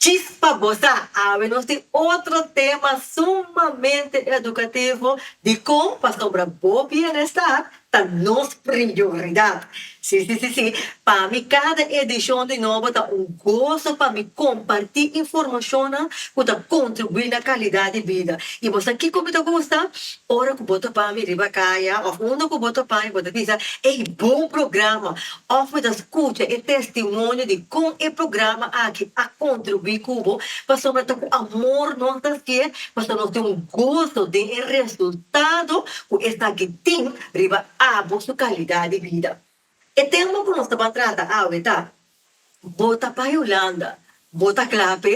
Djis pa goza! Awe nos tin otro tema sumamente educativo di con pasobra bo bienestar ta nos prioridad. Sí, sí, sí, sí, pa mi cada edicion di Nobo ta un gozo pa mi comparti informacionnan cu ta contribui na calidad di bida. Y bo sa kico mi ta gusta? Ora cu bo ta bami riba caya of unda cu bo ta bai bo ta bisa, Ey, bon programa! Òf mi ta skucha e testimonio di kon e programa aki a kontribuí ku bo, pasobra ta ku amor nos ta hacié, pasobra nos tin un goso den e resultado ku esaki tin riba abo su kalidad di bida. E tema ku nos ta batrata awe ta, Bo ta bai Hulanda, bo ta kla p'e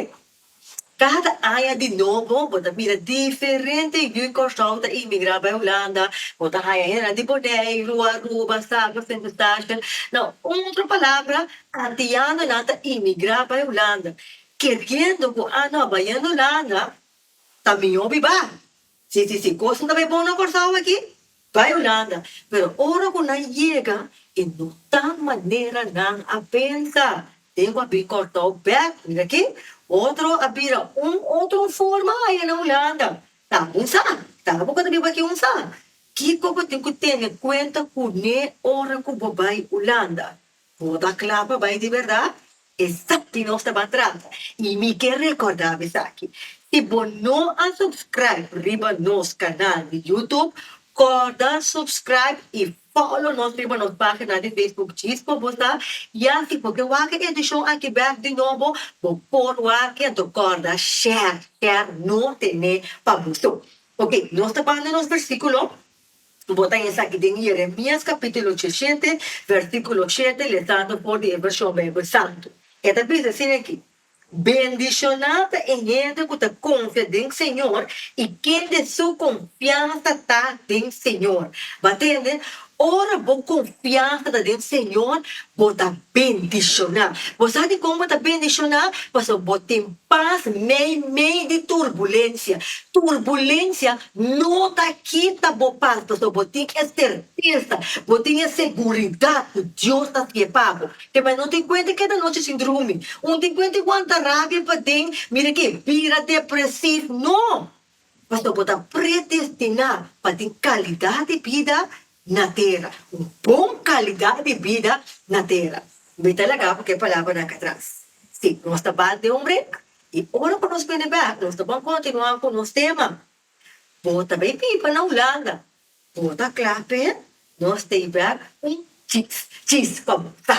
Cada aña di nobo bo ta mira diferente yu Curaçao ta inmigra bai Hulanda. Bo ta haña hende di Boneiru, Aruba, Saba, Sint Eustatius. Na un otro palabra, antianonan ta inmigra bai Hulanda. Keriendo cu anho a bai yen Hulanda, ta miho biba. Si si si cosnan ta bay bon na Corsao aki, bay Hulanda, pero ora cu nan yega y no ta manera nan a pensa den cu a bin Corsao bek, mira aki, otro a bira un otro forma aya na Hulanda, ta un sa, ta bo cu ta biba aki un sa, kico bo tin cu tene cuenta cune ora cu bo bay Hulanda? Bo ta kla pa bai di berdad? Esaki nos ta ban trata. Y mi ke recorda bo esaki, si bo no a subscribe riba nos canal di YouTube, corda subscribe y follow nos riba nos pagina di Facebook Chispa Bosa, y así bo ke wak e edicion aki bek di nobo, bo por wak ento corda share, share no tene pa bo so. Ok, nos ta banda nos versiculo. Bo ta esaki den Jeremias capítulo diecisiete, versículo siete, lezando for di e version Bijbel Santu. E ta bisa asin aki, Bendicioná ta e hende cu ta confia den Señor i kende su confiansa ta den Señor. Bo a tende? Ora bo confiansa ta den Señor, bo ta bendicioná. Bo sa dicon bo ta bendicioná? Pasobra bo tin pas mei mei di turbulencia. Turbulencia No ta kita bo pas pasobra bo tin e sertesa, bo tin e seguridat ku Dios ta siña pa bo. Te mai no tin kuent di keda nochi sin drumi, un tin kuent di guanta rabia paden mira ke bira depresiv. No! Pasobra bo ta predestiná pa tin kalidat di bida na tera, un bon kalidat di bida na tera. Mi ta laga ku ke palabra nan atras. Si, nos ta bai den un brek, i ora ku nos bini bèk nos ta bon kontinuá ku nos tema. Bo ta bai biba na Hulanda? Bo ta kla p'e nos tei bèk un chis, chis pa bo ta.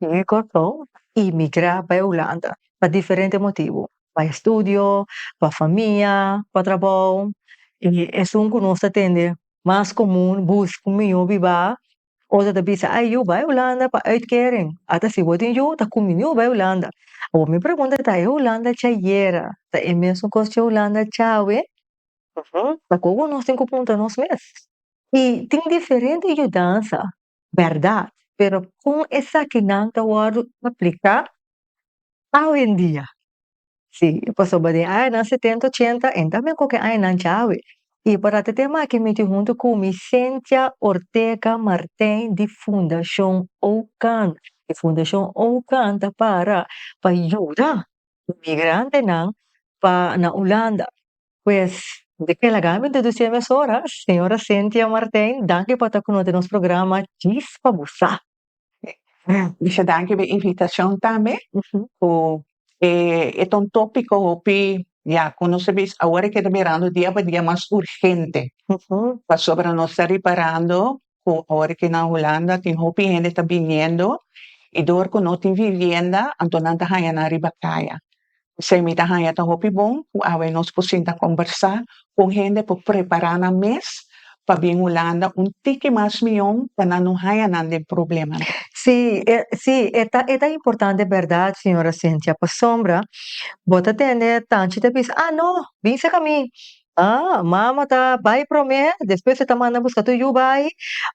Tin e Kòrsou i migrá pa e Hulanda pa diferente motibu, pa estudio, pa famia, pa trabou. I esun ku nos ta tende mas komun, bus ku mi yu bibá, otro ta bisa, ai yu bai Hulanda pa uitkering, ata si bo tin yu ta ku mi yu bai Hulanda. Awor mi pregunta ta e Hulanda cha yera ta e mesun kos cha e Hulanda cha awe? Uhum, ta kon ku nos tin ku punta nos mes. I tin diferente yudansa bèrdat, pero kon esakinan ta wòrdu apliká awendia? Sí, pasobra den e añanan setenta, ochenta, en tambe ku ke añanan djawe, i por a ta te make miti huntu ku mi Cynthia Ortega Martijn di Fundashon Oukan. E Fundashon Oukan ta para pa yuda migrantenan pa na Ulanda. Pues, di ke laga mi deduci e mesora, señora Cynthia Martijn, danki pa ta ku nos den nos programa Djis pa Busa. Mester danki pa e invitacion tambe, ku e ta un topico hopi, ya, ku nos a bisa awor a keda mirando dia pa dia mas urgente, pasobra nos ta riparando cu awor aki na Hulanda tin hopi hende ta biniendo y door cu no tin vivienda anto nan ta haya nan riba caya. P'esey mi ta haya ta hopi bon cu awe nos por sinta combersa cu hende por prepara nan mes pa bin Hulanda un tiki mas miyon pa nan no haya nan den probleman. Sí, e, sí, e ta, e ta importante berdad, señora Cynthia, pasobra bo ta tende tanchi ta bisa, ah, no, bin cerca mi, A, mama ta bai promé, despues e ta manda buska tur yu bai.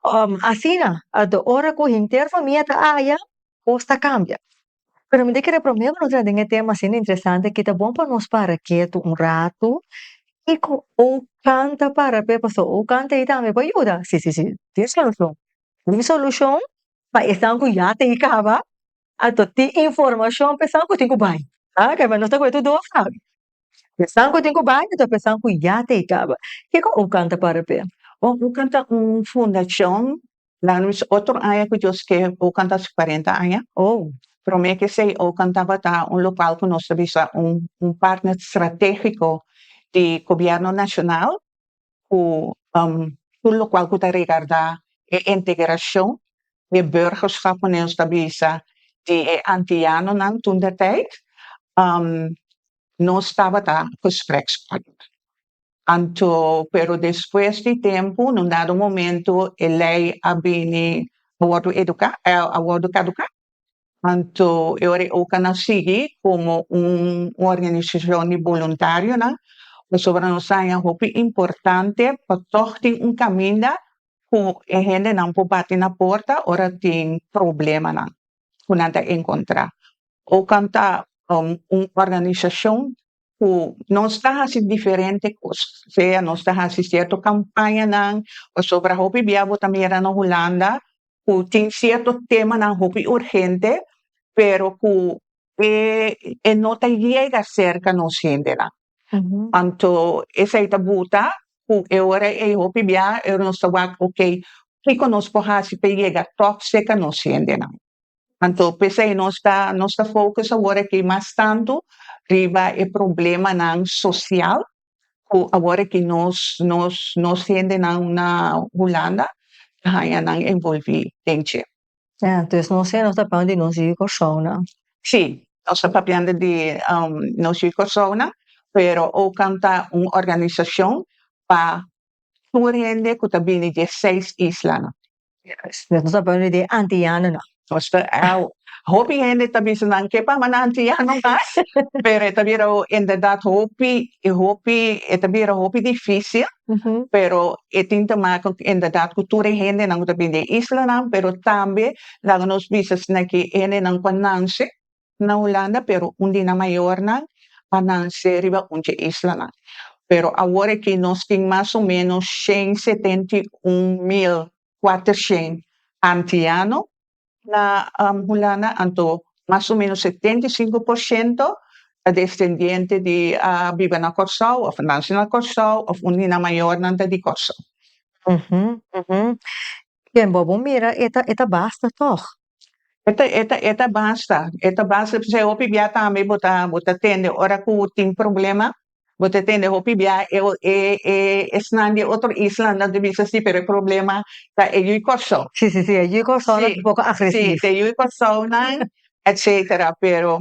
Um, asina, anto ora ku henter famia ta aya, kos ta kambia. Pero mi ta kere promé ku no tra den e tema asina interesante ki ta bon pa nos para ketu un ratu i ku ou kanta para p'e, pasobra ou kanta ei tambe por yuda. Si, si, si, tin solushon. Tin solushon pa esnan ku ya ta e kaba, Anto tin informashon pa esan ku tin ku bai. Oke, pero nos ta kuda tur dos awe. Esan ku tin ku bai ta esan ku ya ta e kaba. Kiko Okan ta para p'e? Okan ta un fundashon, nan a bisa otro aña ku Dios krea Okan ta hasi kuarenta aña. Promé ke esei Okan tabata un lokal ku nos ta bisa un un partner stratégiko di gobièrnu nashonal. ku tur lokual ku ta regardá e integrashon di burgerskap ku nos ta bisa di e antianonan tun den tèit nos tabata gesprekspartner anto pero despues di tempu nun dado momento e lei a bini a wòrdu eduká a wòrdu kaduká Anto e ora e oca nan sigui como un organisacion di boluntarionan pasobra nos sa aña hopi importante pa tog tin un caminda cu e hendenan por bati na porta ora tin problemanan cu nan ta encontra. Occan ta un organisacion cu nos ta haci diferente cos sea nos ta haci cierto campañanan pasobra hopi bia bo ta mira na Hulanda ku tin sierto temanan hopi urgente pero ku e e no ta yega serka nos hendenan anto esei ta buta ku e ora ei hopi bia e ora nos ta wak okay kiko nos por hasi pa yega tòg se ka nos hendenan anto pesei nos ta nos ta focus awor aki mas tantu riba e problemanan social cu awor ki nos, nos, nos hendenan na Hulanda ta haña nan envolvi den dje. Ja, entonces nos hende nos ta hablando di nos yu Corsounan. Sí, nos ta papia-ndo di nos yu Corsounan, pero Okan ta un organisacion pa tur hende cu ta bini di e seis islanan. Nos ta bini di e antianonan. Nos ta hopi hende ta bisa nan ke pa mannan antiano mas pero e ta bira inderdat hopi i hopi e ta bira hopi difisil pero e tin te maka inderdat ku tur e hendenan ku ta bini di e islanan pero tambe laga nos bisa esaki e hendenan ku a nanse Na Hulanda, Peru, un di nan mayornan a nansé riba un dje islanan. Pero awor akí nos tin mas o ménos shen setenta i un mil kuatershen antiano. Na Hulanda, anto, mas o ménos setenta i sinku por shento ta destendiente di a biba na Kòrsou òf a nanse na Kòrsou òf un di nan mayornan ta di Kòrsou. Ken bo bo mira e ta e ta basta tog. E ta e ta e ta basta e ta basta p'esei hopi bia tambe bo ta bo ta tende ora ku tin problema bo ta tende hopi bia e o e e esnan di e otro isla nan ta bisa si pero e problema ta e yu Kòrsou. Si si si e yu Kòrsou nan ta poko agresif. Si ta e yu Kòrsounan etsetera pero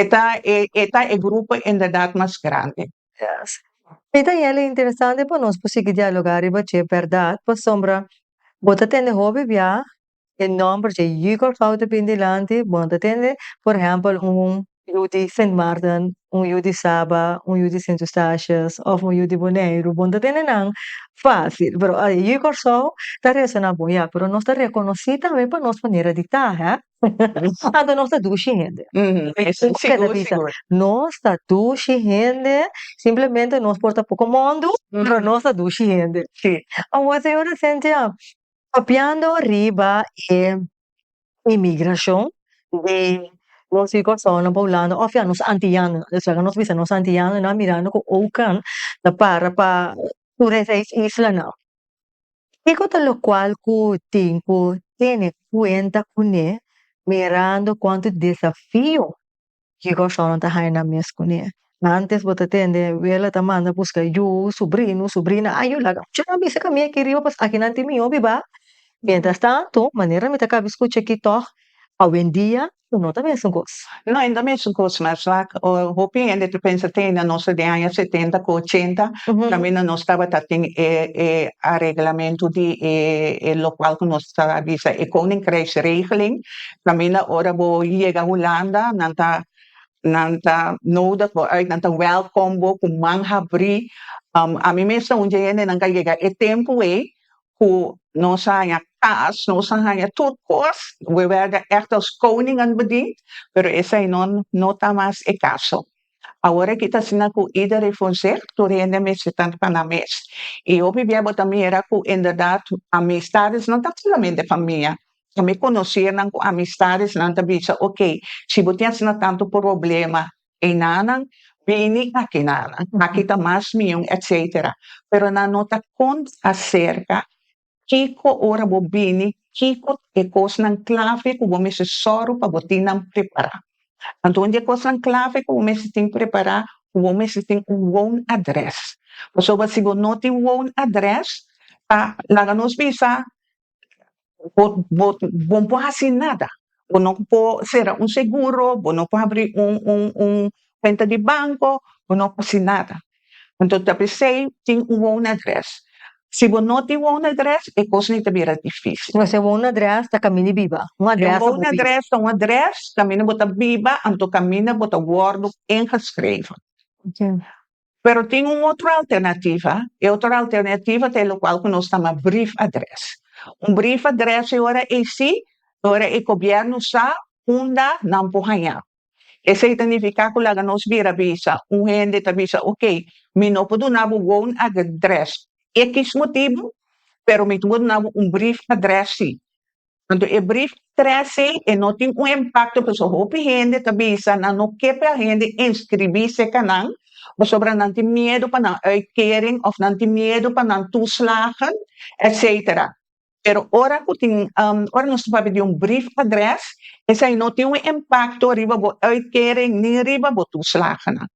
E ta e e ta e grupo inderdat mas grandi. Yes. Mi ta yeli interesante pa nos por sigui dialogá riba dje bèrdat pasobra bo ta tende hopi bia e nòmber dje Jügerfrau ta bini dilanti, bo no ta tende por ehèmpel un yu di Sint Maarten, un yu di Saba, un yu di Sint Eustatius òf un yu di Boneiru, bo no ta tende nan fásil, pero Jügersau ta resoná bon ya, pero nos ta rekonosí tambe pa nos manera di ta, hè. Anto nos ta dushi hende nos ta dushi hende simplemente nos por ta poko mondo pero nos ta dushi hende awor señora Sentia papiando riba e inmigrashon di nos fi Kòrsounan pa Hulanda of ya nos antiano nan esaki nos bisa nos antiano nan a mirando ku oukan ta para pa tur esei islanan. Kiko ta lokual ku tin ku tene kuenta kuné mirando kuantu desafio ki Kòrsounan ta haña nan mes kuné? Ántes bo ta tende Wela ta manda buska yu, subrino, subrina, a yu laga kucha nan bisa kami aki riba pues akinan tin mi hopi ba. Miéntras tantu, manera mi ta kaba skucha ki tòg, awendia Pero no ta mesun cos. No, e ta mesun cos mas vak. Hopi hende ta pensa te na nos den aña setenta cu ochenta tambe na nos tabata tin e e areglamento di e e locual cu nos ta bisa e koninkrijksregeling. Caminda ora bo yega Hulanda nan ta nan ta nodig bo uit nan ta welcom bo cu man habri. Ami mes ta un dje hende nan ca yega e tempo ey ku nos a haña kas, nos a haña tur kos, we wèrda ègt aos koning an bedind, pero esei no no ta mas e kaso. Awor aki ta asina ku ieder e fonseg, tur hende mester ta riba nan mes. I hopi bia bo ta mira ku inderdat amistadesnan ta solamente famia, tambe konosirnan ku amistadesnan ta bisa, oke, si bo tin asina tantu problema, einanan bini akinanan aki ta mas miun etcetera pero nan no ta cont acerca kico ora bo bini kico e cosnan clave cu bo mester soro pa bo tin nan prepara anto un di e cosnan clave cu bo mester tin prepara cu bo mester tin un woon address pasobra si bo no tin woon address ta laga nos bisa bo bo bo por hasi nada bo no por sera un seguro bo no por habri un un un cuenta di banco bo no por hasi nada anto ta pesey tin un won address si bo no tin won address e cosa ni ta bira dificil un won address ta caminda y biba un address ta un address caminda bo ta biba anto caminda bo ta wordo ingeschreven. Pero tin un otro alternativa, e otro alternativa ta e lokual ku nos ta nama brief address. Un brief address e ora AC, e ora e gobièrnu sa unda nan por haña. Esei ta nifiká ku laga nos bira bisa un hende ta bisa, ok, mi no por duna bo goun address, x motibu, pero mi ta por duna bo un brief address sí. Anto e brief trece e no tin un impacto pasobra hopi hende ta bisa nan no ke pa hende inscribi cerca nan pasobra nan tin miedo pa nan uitkering of nan tin miedo pa nan toeslagen etcetera. Pero ora cu tin ehm ora nos ta papia di un brief adres esai no tin un impacto riba bo uitkering ni riba bo toeslagennan.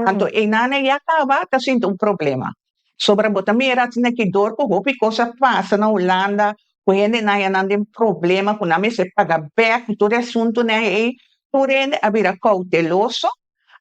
Anto einan na ya caba ta sinti un problema. Sobra bo ta mira asina e dor ku hopi kos a pasa na Hulanda ku hendenan yanan den problema ku nan mester paga bèk ku tur e asuntunan ei, tur hende a bira kouteloso.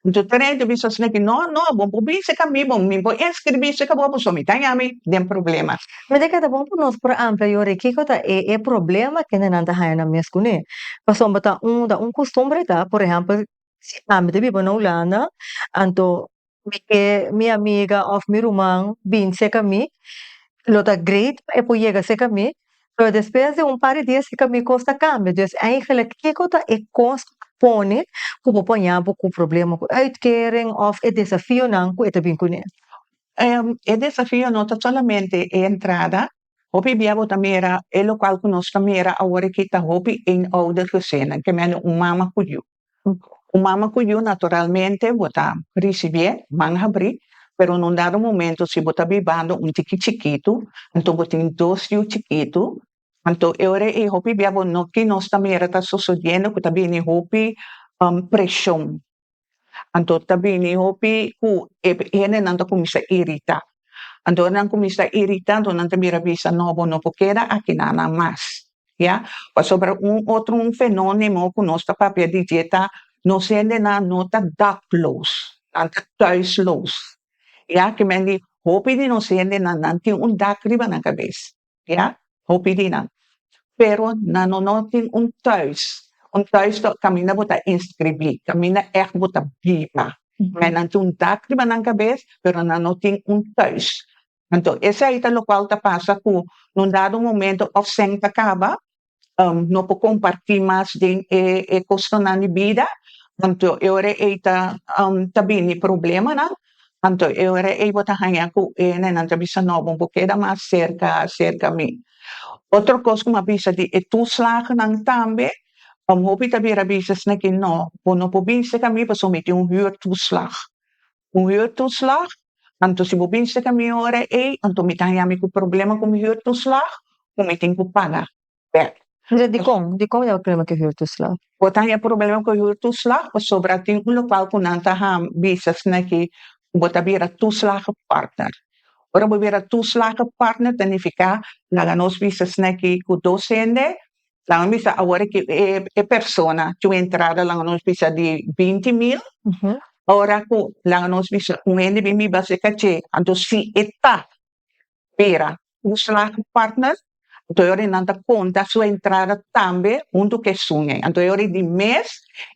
Anto tur hende a bisa asina, no, no, bo por bisa ka mi, bo mi por enskribí si ka bo abuso mi ta yami den problema. Mi tabata ta bon ku nos por amplia yora e kiko ta e e problema ku hendenan ta haña nan mes kuné. Pasobra ta un ta un kustumbre ta, por ehèmpel, si ami ta biba na Hulanda, anto mi ke mi amiga of mi ruman bin seca mi lo ta great pa e por yega seca mi pero despues di un par di dia seca mi cos ta cambia dus eigenlijk kico ta e cos cu bo pone cu bo por aña bo cu problema cu uitkering of e desafionan cu e ta bin cu ne. E desafio no ta solamente e entrada hopi bia bo ta mira e local cu nos ta mira awor aki ta hopi eenouder gezinnen ke mende un mama cu yu Un mama ku yu naturalmente bo ta risibié man habrí, pero un dado momento si bo ta bibando un tiki chikitu, anto bo tin dos yu chikitu, anto e ora ei hopi bia bo no kin nos ta mira ta sosodiendo ku ta bini hopi preshon, anto ta bini hopi ku e hendenan ta kuminsá iritá. Anto ora nan kuminsá iritá anto nan ta bira bisa no bo no por keda aki na nan mas. ya, pasobra un otro un fenonimo ku nos ta papia di dje ta nos hendenan no ta dakloos, nan ta thuisloos, ya, ke men di hopi di nos hendenan nan tin un dak riba nan kabes, ya, hopi di nan, pero nan no no tin un thuis, un thuis ta kaminda bo ta inskribí, kaminda ègt bo ta biba, men nan tin un dak riba nan kabes pero nan no tin un thuis, Anto esei ta lokual ta pasa ku na un dado momento òf sèn ta kaba, no por kompartí mas den e e kostonan di bida, anto e ora ei ta ta bini problemanan, anto e ora ei bo ta haña ku e nenan ta bisa no bo por keda mas serka serka mi. Otro kos ku mi a bisa di e tuslagnan tambe, hopi ta bira a bisa esaki no, bo no por binse ka mi pasobra mi tin un hür tuslag. Cu huur toeslag? Anto si bo binste ca mi ora ey, anto mi ta haya mi cu problema cu mi huur toeslag cu mi tin cu paga back. Entonces dicon? Dicon ya bo problema cu e huur toeslag? Bo ta haya problema cu e huur toeslag pasobra tin un local cu nan ta ham bisa asina aki cu bo ta bira toeslagenpartner. Ora bo bira toeslagenpartner ta nifica laga nos bisa asina aki cu dos hende Nan a bisa awor aki e persona cu un entrada laga nos bisa di binti mil, ora cu laga nos bisa un hende bin biba haci caché, anto si e ta bira un slagen partner, anto e ora nan ta conta su entrada tambe hunto cu esun ei. Anto e ora di mes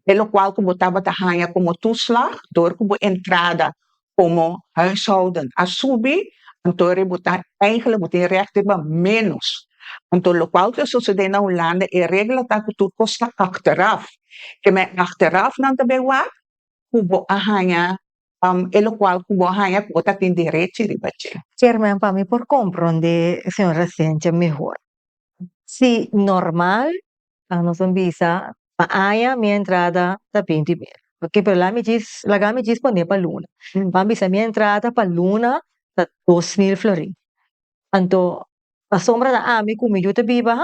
e locual cu bo tabata haya como tu slag door cu bo entrada komo huishouden a subi, anto e ributan eigenlik bo tin rèk riba ménos. Anto lokual ta sosodé na Hulanda e regla ta ku tur kos ta achteraf. Ke men achteraf nan ta bai wak ku bo a haña e lokual ku bo a haña ku bo ta tin derechi riba dje. Chairman pa mi por komprondé señor Asencha mehor. Si normal a nos a bisa pa aña mi entrada ta bin di mer oke pero la mi djis laga mi djis pone pa luna a bisa mi entrada pa luna ta dos mil florin anto asombra ta ami ku mi yu ta biba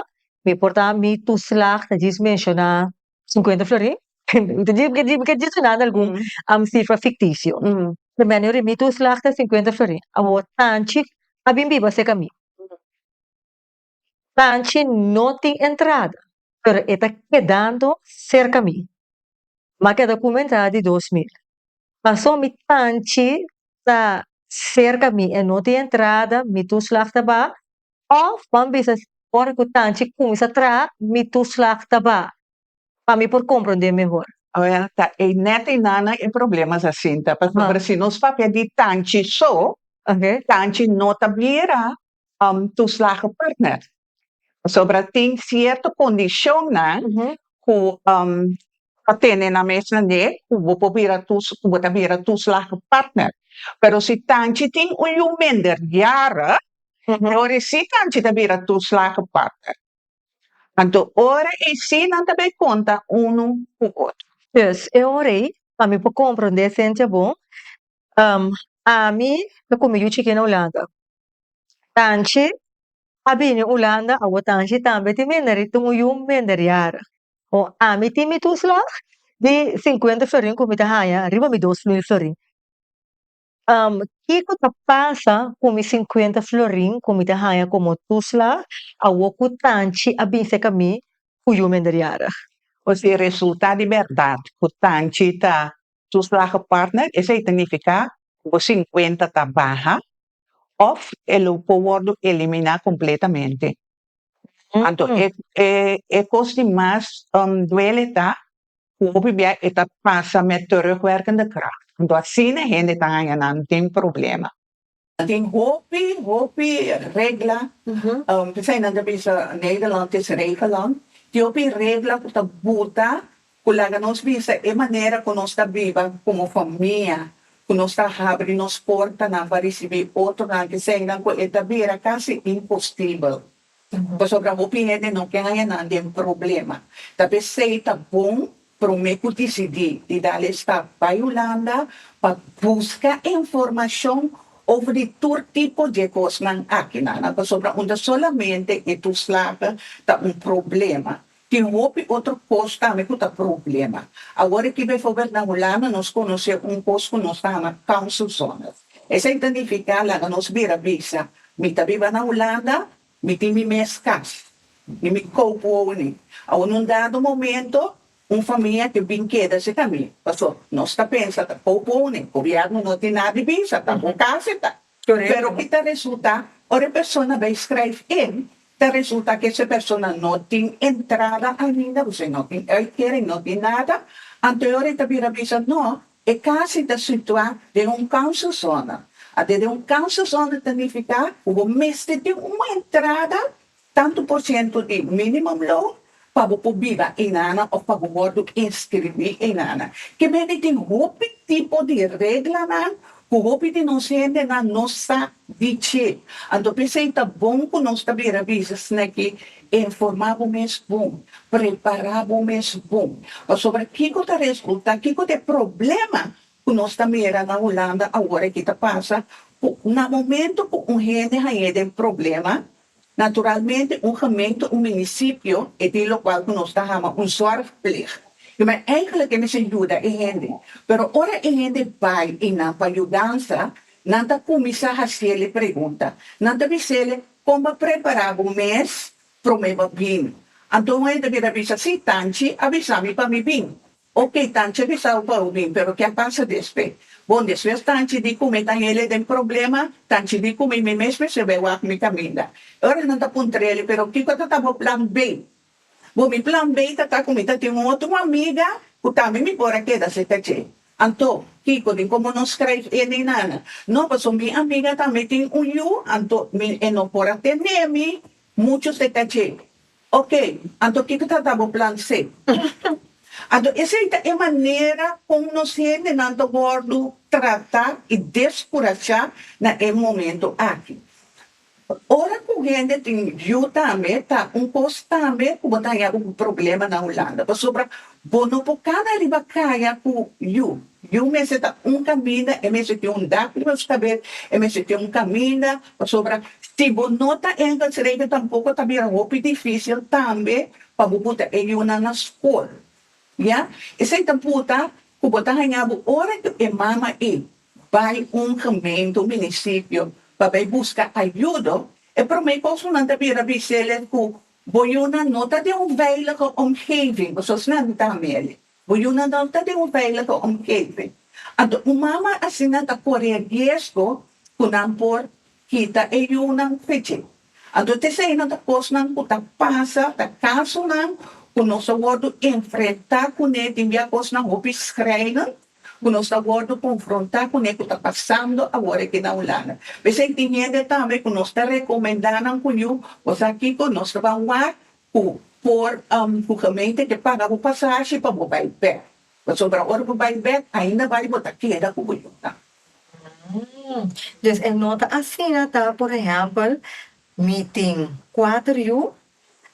mi por ta mi tuslag ta djis menshona shinkuenta florin mi ta mi mi ka djis menshona algun sifra fiktisio mi a yud'e mi tuslag ta shinkuenta florin awor tanchi a bin biba seka mi. Sanchi no tin entrada, pero e ta kedando serka mi. Maki a ta kuma entrada di dos mil. Paso mi tanchi ta serka mi e no tin entrada, mi tuslag ta ba, of ban bisa ora ku tanchi kuminsa tra mi tuslag ta ba, pa mi por komprondé mehor. Awor ta e nèt ei nana e problemas asinta, pasobra si nos papia di tanchi so, tanchi no ta blira toeslagen partner pasobra tin cierto condicionnan cu ta tene na mesa de cu bo por bira cu bo ta bira toeslagen partner pero si tanchi tin un yu minderjarig dori si tanchi ta bira toeslagen partner anto ora e si nan ta bay conta uno cu otro. Yes e ora ey pa mi por compronde esencia bon ami ta cume yu chiki na Hulanda Tanchi a bini Ulanda awo Tanchi tambe tin mendari tin un yu mendari yara ho ami tin mi two slag di sinkuenta florin ku mi ta haña riba mi dos mil florin kiko ta pasa ku mi sinkuenta florin ku mi ta haña komo two slag awo ku Tanchi a bin seka mi ku yu mendari yara. O si e resulta di bèrdat ku Tanchi ta two slag partner esei ta nifiká ku bo sinkuenta ta baha òf e lo por wòrdu eliminá kompletamente. Anto e e e kos di mas duele ta ku hopi bia e ta pasa met terugwerkende kragt. Anto asina e hende ta haña nan den problema. Tin hopi hopi regla, p'esei nan ta bisa Nederland is regelland, tin hopi regla ku ta buta ku laga nos bisa e manera ku nos ta biba komo famia, ku nos ta habri nos portanan pa risibí otronan di sendan ku e ta bira kasi impostibel. Pasobra hopi hende no ken haña nan den problema. Ta p'esei ta bon promé ku disidí di dal e stap bai Hulanda pa buska informashon over di tur tipo dje kosnan akinan. Pasobra unda solamente e toeslagen ta un problema, Tin hopi otro kos tambe ku ta problema. Awor aki befobert na Hulanda nos konosé un kos ku nos ta hama council zones. Esei ta nifiká laga nos bira bisa, mi ta biba na Hulanda, mi tin mi mes kas i mi koupu ouni. Awor na un dado momento un famia ke bin keda cerca mi, pasobra nos ta pensa ta koupu ouni, gobièrnu no tin nada di bisa, ta bo kas eta. Pero ki ta resulta? Ora e persona bai skryf in, ta resulta ke se persona no tin entrada ainda, pues e no tin uitkering, e no tin nada, anto ora e ta bira bisa no, e kasi ta situá den un kanselzona. Ante den un kanselzona ta nifiká ku bo mester tin un entrada Tantu por ciento di minimum loan pa bo por biba einana of pa bo wordo inscribi einana. Kibe di tin hopi tipo di reglanan cu hopi di nos hendenan no sa di dje. Anto pesey ta bon cu nos ta bira bisa sneki informa bo mes bon, prepara bo mes bon. Pasobra kico ta resulta, kico ta e problema cu nos ta mira na Hulanda awor aki ta pasa cu na momento cu un hende hañe den problema Naturalmente un gemeente, un municipio e tin locual cu nos ta hama un zorgpleeg. Yo mi a eigenlijk e mester yuda e hende. Pero ora e hende bay y nan pa yudansa, nan ta cuminsa haciel e pregunta. Nan ta bisele, Con bo a prepara bo mes prome bo a bini? Anto un hende a bira bisa, Si, Tanchi a bisa mi pa mi bini. Ok, tanchi di sal pa unin, pero ke a pasa despe? Bon, despues tanchi di ku mi ta hele den problema, tanchi di ku mi mi mes mi sirbi e wak mi kaminda. E ora nan ta puntreli, pero kiko ta ta bo plan B? Bon, mi plan B ta ta ku mi ta tin un otro amiga ku tambe mi por a keda serka dje. Anto, kiko di komo no skrijf e nei nada? No, paso mi amiga tambe tin un yu, anto mi e no por a tene mi muchu serka dje. Ok, anto kiko ta ta bo plan C? Anto esei ta e manera kon nos hendenan ta wòrdu tratá i deskurashá na e momentu aki. Ora ku hende tin yu tambe ta un kos tambe ku bo ta haña bo ku problema na Hulanda, pasobra bo no por kana riba kaya ku yu. Yu mester ta un kaminda, e mester tin un dak riba su kabes, e mester tin un kaminda, pasobra si bo no ta Engels reken tampoko ta bira hopi difisil tambe pa bo puta e yunan na skol, ya, esei ta puta ku bo ta haña bo ora ku e mama i bai un gemeente, un minisipio pa bai buska ayudo, e promé kos ku nan ta bira bis'el es ku bo yunan no ta den un veilige omgeving, pasobra esnan no ta amerik. Bo yuna nan ta den un veilige omgeving. Anto un mama asina ta kore e riesgo ku nan por kita e yunan pe dje. Anto ta esei nan ta kosnan ku ta pasa, ta kasunan ku nos a wòrdu enfrentá kuné tin bia kosnan hopi skrèinen ku nos ta wòrdu konfrontá kuné ku ta pasando awor aki na Hulanda. P'esei tin hende tambe ku nos ta rekomendá nan ku yu, Bos a kiko? Nos ta ban wak Cu por cu gemeente te paga bo pasashi pa bo bay bek, pasobra ora bo bay bek ainda bay bo ta keda cu bo yunnan. Des e no ta asina ta por ehempel mi tin cuater yu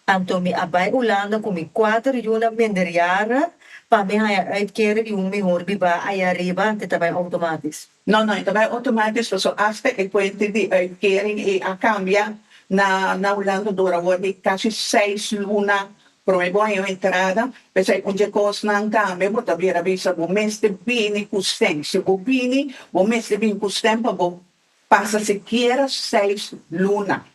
anto mi a bay Hulanda cu mi cuater yu na minderjara pa mi haya uitkering di un mihor biba ay ariba te ta bay automatisch. No no, e ta bai otomatis paso asta e kuente di uitkering ei a kambia na na Hulanda dor awor di kasi seis luna prome bo a hei un entrada, p'esei un dje kosnan tambe bo ta bira bisa bo mester bini ku sten, si bo bini bo mester bini ku sten pa bo pasa sikiera seis luna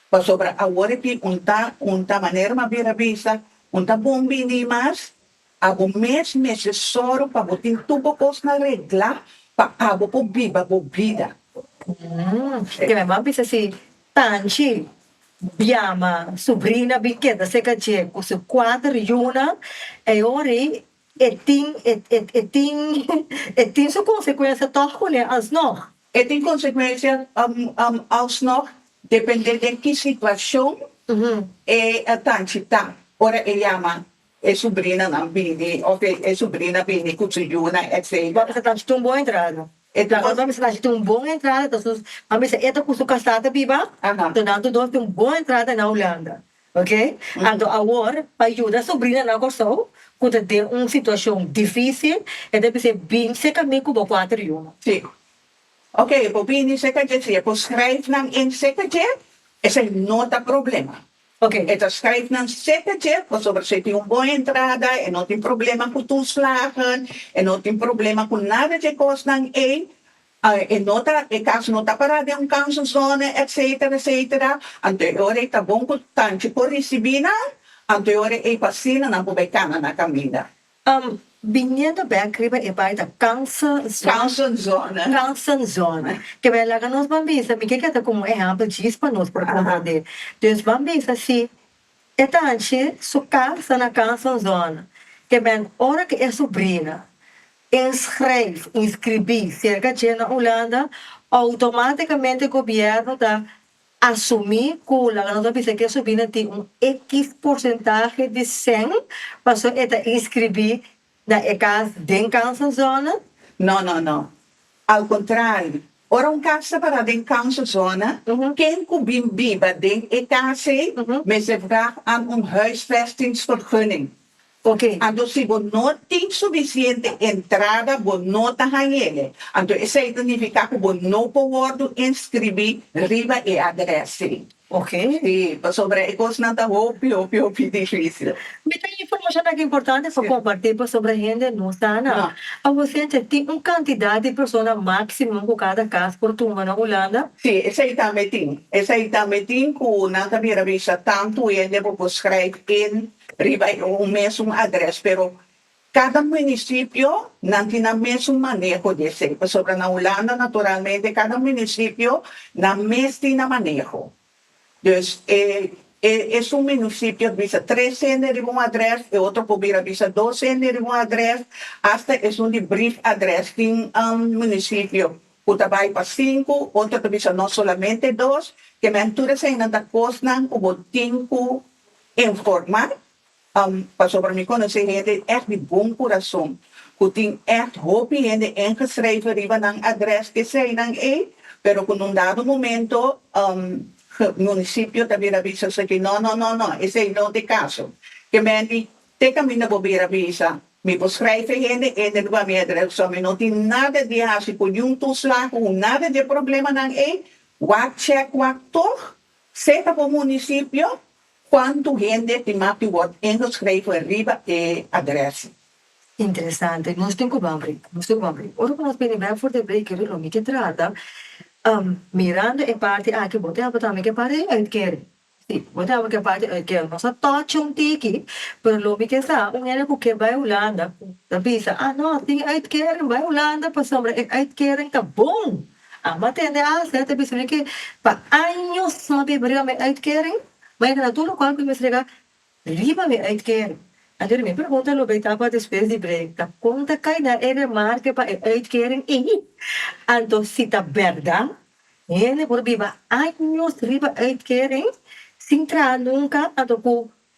pasobra awor aki un ta un ta manera mas bira bisa un ta bon bini mas A bo mes mester sòru pa bo tin tur bo kosnan reglá pa abo por biba bo bida. Mmm. Te mester a bisa si Tanchi biama su brina bin keda seka dje ku su kuater yunan, e hori e tin e tin e tin su konsekuensia tòg kuné alsnòg? E tin konsekuensia alsnòg dependé den ki situashon e Tanchi ta ora e yama E subrinanan bini, of e e subrina bini cu su yunan etcetera. Mami sa traha un bon entrada. E traha mami sa traha un bon entrada entonces mami sa eta cu su casa ta biba, entonces nan tur dos tin un bon entrada na Hulanda, ok. Anto awor pa yuda subrina nan Kòrsou cu ta den un situacion dificil e ta bis'é bin seca mi cu bo cuater yunan. Si. Ok, bo bini seca dje si e por schrijf nan in seca dje esei no ta problema. Ok, e ta schrijf nan sepe chef pasobra si e tin un bon entrada, e no tin problema cu toeslagen, e no tin problema cu nada dje cosnan ey, e no ta, e cas no ta para den un kanselzone etcetera etcetera, anto e ora ey ta bon cu tanchi por ricibi nan, anto e ora ey pa asina nan por bay cana na caminda. Am, biniendo bek riba e bai ta Kansen Zon, Kansen Zon, ke bai laga nos ban bisa, mi ke keda komo ehèmpel djis pa nos por komprendé. Dus ban bisa si e tanchi su kas ta na Kansen Zon, ke bèn ora ke e subrina inschrijf, inskribí, serka dje na Ulanda, outomátikamente gobièrnu ta Asumí ku laga no ta bisa ku e subrina tin un ekiz porsentahe di sèn pasobra e ta inskribí na e kas den Council Zona? No, no, no. Al kontrario, ora un kas ta pará den Council Zona, ken ku bin biba den e kas ei mester vraag an un huisvestingsvergunning. Ok, anto si bo no tin sufisiente entrada bo no ta hañ'e, anto esei ta nifiká ku bo no por wòrdu inskribí riba e adrès ei. Ok. Sí, pasobra e kosnan ta hopi, hopi, hopi difísil. Mi tin informashon aki importante pa kompartí pasobra hende no sa nan. Awor Cynthia, tin un kantidat di persona máksimo ku kada kas por tuma na Hulanda? Sí, esei tambe tin. Esei tambe tin ku nan ta bira bisa tantu hende ku por skrijf in Riba e un mesun adres pero cada municipio nan tin nan mesun maneho di esey pasobra na Hulanda naturalmente cada municipio nan mes tin nan maneho dus e e esun municipio bisa tres hende riba un adres e otro por bira bisa dos hende riba un adres hasta esun di brief adres tin municipio cu ta bay pa sinku otro ta bisa no solamente dos kemey tur esey nan ta cosnan cu bo tin cu informa pasobra mi konosé hende di ègt di bon kurason ku tin ègt hopi hende ingeschreven riba nan adrès keseinan ei pero ku un dado momento munisipio ta bira bisa esaki nò nò nò nò esei no t'e kaso ke men di te ka mi no bo bira bisa mi bo schrijf e hende e hende no ba mi adrès so mi no tin nada di hasi ku niun toeslag ku nada di e problemanan ei wak chèk wak tog Seta bo munisipio kuantu hende tin mati wòrd ingeskreve riba e adrès. Interesante. Nos tin ku bambri, nos tin ku bambri. Ora ku nos bini bèk for di break ri lo mi ke trata, mirando e parti aki bo tin aba tambe ku e parti di uitkering. Si, bo tin aba ku e parti di uitkering. Nos a tòchi un tiki, pero lo mi ke sa un hende ku ke bai Hulanda, ta bisa, a no, tin uitkering, bai Hulanda pasobra e uitkering ta bon. Amba tende asta e ta bisa mi ke pa años mi a bin briga mi uitkering mi a yega na tur local ku mi a strega riba mi uitkering anto mi pregunta lo bay tapa despues di break ta kon ta kai na e remarke pa e uitkering ey anto si ta berdad hende por biba años riba uitkering sin traha nunka anto ku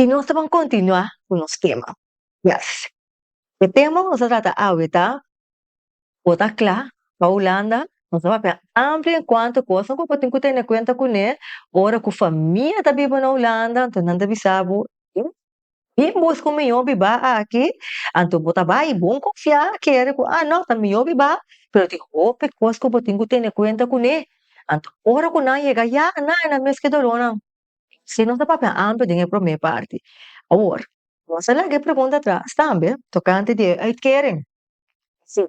I nos ta ban kontinuá ku nos kema. Yes. E tema ku nos ta trata awe ta, Bo ta kla pa Hulanda? Nos a papia amplio en kuantu kosnan ku bo tin ku tene kuenta kuné ora ku famia ta biba na Hulanda, anto nan ta bisa bo, Tin bus ku mihó biba aki, anto bo ta bai. Bon konfiá kere ku a nò, ta mihó biba, pero tin hopi kos ku bo tin ku tene kuenta kuné. Anto ora ku nan yega ya, nan a na mes ki dolónan. Así nos a papia amper den e promé parti. Awor, nos a laga e pregunta atras tambe tokante di e uitkering. Sí,